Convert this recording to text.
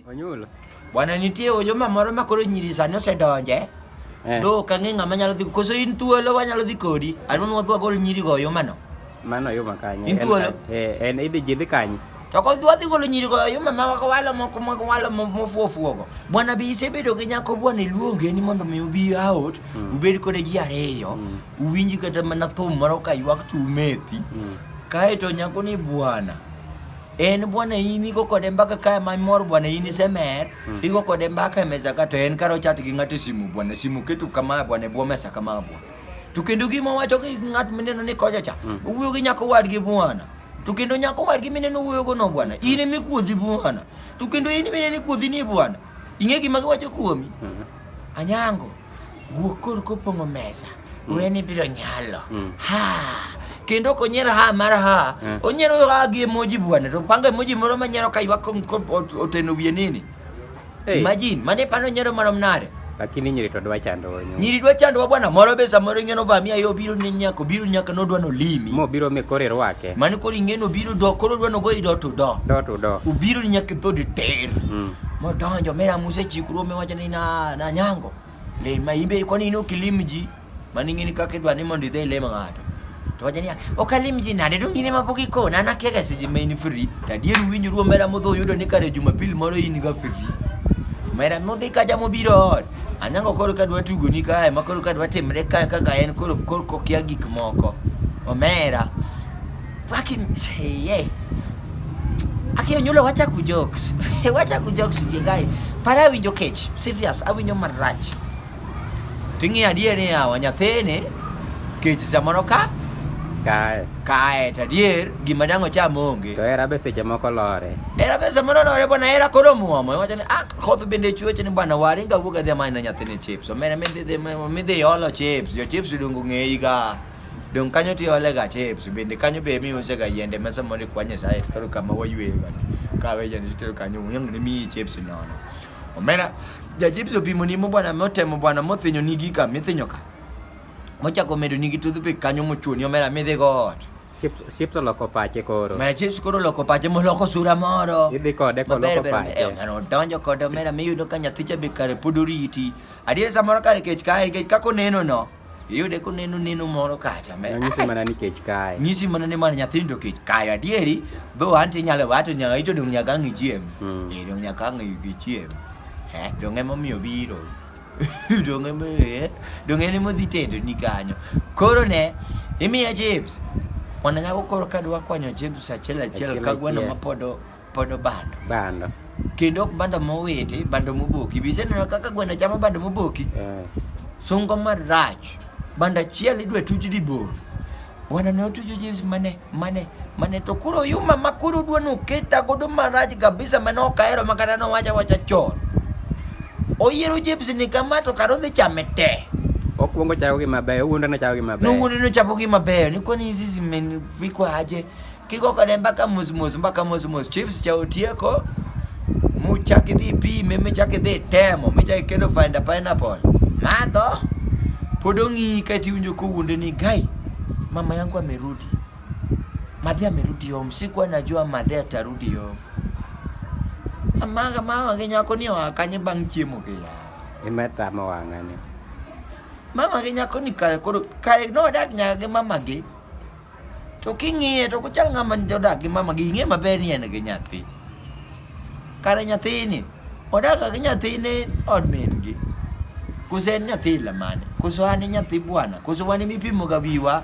Onyulo. Bwana nitie ojoma moro ma koro nyiri sani osedonje. Eh. Do ka ng'e ng'ama nyalo dhi koso in thuolo wanyalo dhi kodi. Adwa nwa dwa gol nyiri go oyoma no. Mano oyoma kanye. In thuolo? Eh, en idhi jidhi kanye. To ko dwa dhi golo nyiri go oyoma ma wako walo moko moko walo mofuo fuogo. Bwana bi isebedo gi nyako bwana iluonge ni mondo mi ubi out, mm. ubed kode ji ariyo, mm. uwinji kata mana thum moro ka ywak tumethi. Mm. Kae to nyako ni bwana. en bwana in igo kode mbaka kae mamor bwana in isemer hmm. igo kode mbaka e mesa ka to en kara ochat gi ng'ato e simu bwana simu keto kama bwana e bwo mesa kama bwana to kendo gima wacho gi ng'at mineno ni koja cha hmm. owuoyo gi nyako wadgi bwana to kendo nyako wadgi mineno owuoyogo no bwana hmm. in emi kuodhi bwana to kendo in mineno kuodhi ni bwana ing'e gima giwacho kuomi anyango Guok kor kopong'o mesa, mm. weni biro nyalo. Mm. Ha! kendo ok onyiero ha mar ha eh. onyiero ha gi emoji bwana to pango emoji moro ma nyiero ka ywak oteno wiye nini hey. imagine mane pano nyiero marom nade lakini nyiri to dwa chandowa nyiri dwa chandowa bwana moro be samoro ing'eno vamia yo biro ni nyako biro nyaka nodwa nolimi mo biro me kore rwake mani koro ing'eno biro do koro dwa nogoyi do to do do to do ubiro ni nyaka dhodi ter mm. modonjo mera muse chikruo mewacho na na nyango le maimbe kwa nini ukilimji maningini kake dwa ni mondi dai le mangato to wajania okalimji na de dongine mapoki ko na na kega siji main free tadier winyu ruo mera modho yudo ni kare jumapil moro in ga free mera modhi ka jamo biro anyango koro ka dwa tugo ni kae ma koro ka dwa timre kae kaka en koro koro kokia gik moko omera Aki mseye. Aki onyulo wacha ku jokes. wacha ku jokes jigai. Para awinjo kech. Serious, awinjo marach. Ting'i adier ni yawa nyathini kech samoro ka kae kae to adier gima dang' ocham onge to hera be seche moko lore hera be samoro lore bwana hera koro muomo iwacho ni ah koth bende chueche ni bwana waringa wuog adhi amany na nyathini chips omera midhi midhi olo chips jo chips odongo ng'eyi ga Donge kanyo to iole ga chips, bende kanyo be ema iuse ga yiende ma samoro ikwa Nyasaye koro kama wayueyo ga. Kawe jande titero kanyo wang' ne miyi chips nono. Omera ja chips opimo ni mo bwana motemo bwana mothinyo ni gika mithinyo ka. Mochako medo ni gi toothpick kanyo mochuoni omera midhi go ot. Chips chips oloko pache koro. Mara chips koro loko pache moloko sura moro. Idhi kode Maber koloko ber pache. eh, ng'ano donjo kode omera miyudo ka nyathicha be kare pod oriti. Adier samoro kare kech kae nikech kaka oneno no. iyude koneno neno moro kacha me Nyisi mana ni kech kae. nyisi mana ni mana nyathindo kech kayo adieri dho an tinyalo wato nyaka ito dong nyaka ang' ichiem Mm. Eh, dong nyaka ang' ichiem Eh, dong emomiyo biro dong emo eh, dong en emodhi tedo ni kanyo koro ne imiya chips mwana nyako koro kadwa kwanyo chips achiel achiel Achiel kagweno achiel. mapod o- Podo bando. Bando. Kendo ok bando mowiti, bando moboki. Biseneno kaka gweno chamo bando moboki? Eh. Sungo marach. Bando achiel idwa tuch di bor. Bwana ne otujo James mane mane mane to koro yuma ma koro dwa noketa godo marach kabisa mane ok ahero ma kata nowacha wacha chon. Oyiero James ni kama to karo dhi chame te. Okuongo chako gi mabeyo, owuondo ne chako gi mabeyo. Nowuondo ne chako gi mabeyo. Ni kwani hizi zimevikwa aje? Kiko kode mbaka mos mos mbaka mos mos chips cha otieko muchak idhi pime michak idhi temo michak iketo find a pineapple madho pod ong'i ka tiwinjo kowuonde ni gai mama yangu amerudi madhe amerudi yom sikuwa najua madhe atarudi yom amaga mama gi nyako ni oa kanye bang' chiemo gi ya imetama wang'ani mama gi nyako ni kare koro kare nodak nyaka gi mama gi To king'iye to kochal ng'ama odak gi mama gi ing'e maber ni en gi nyathi. Kare nyathini odak gi nyathine od min gi. Koso en nyathi lamane? Koso an nyathi bwana? Koso wan mipimo ga wiwa?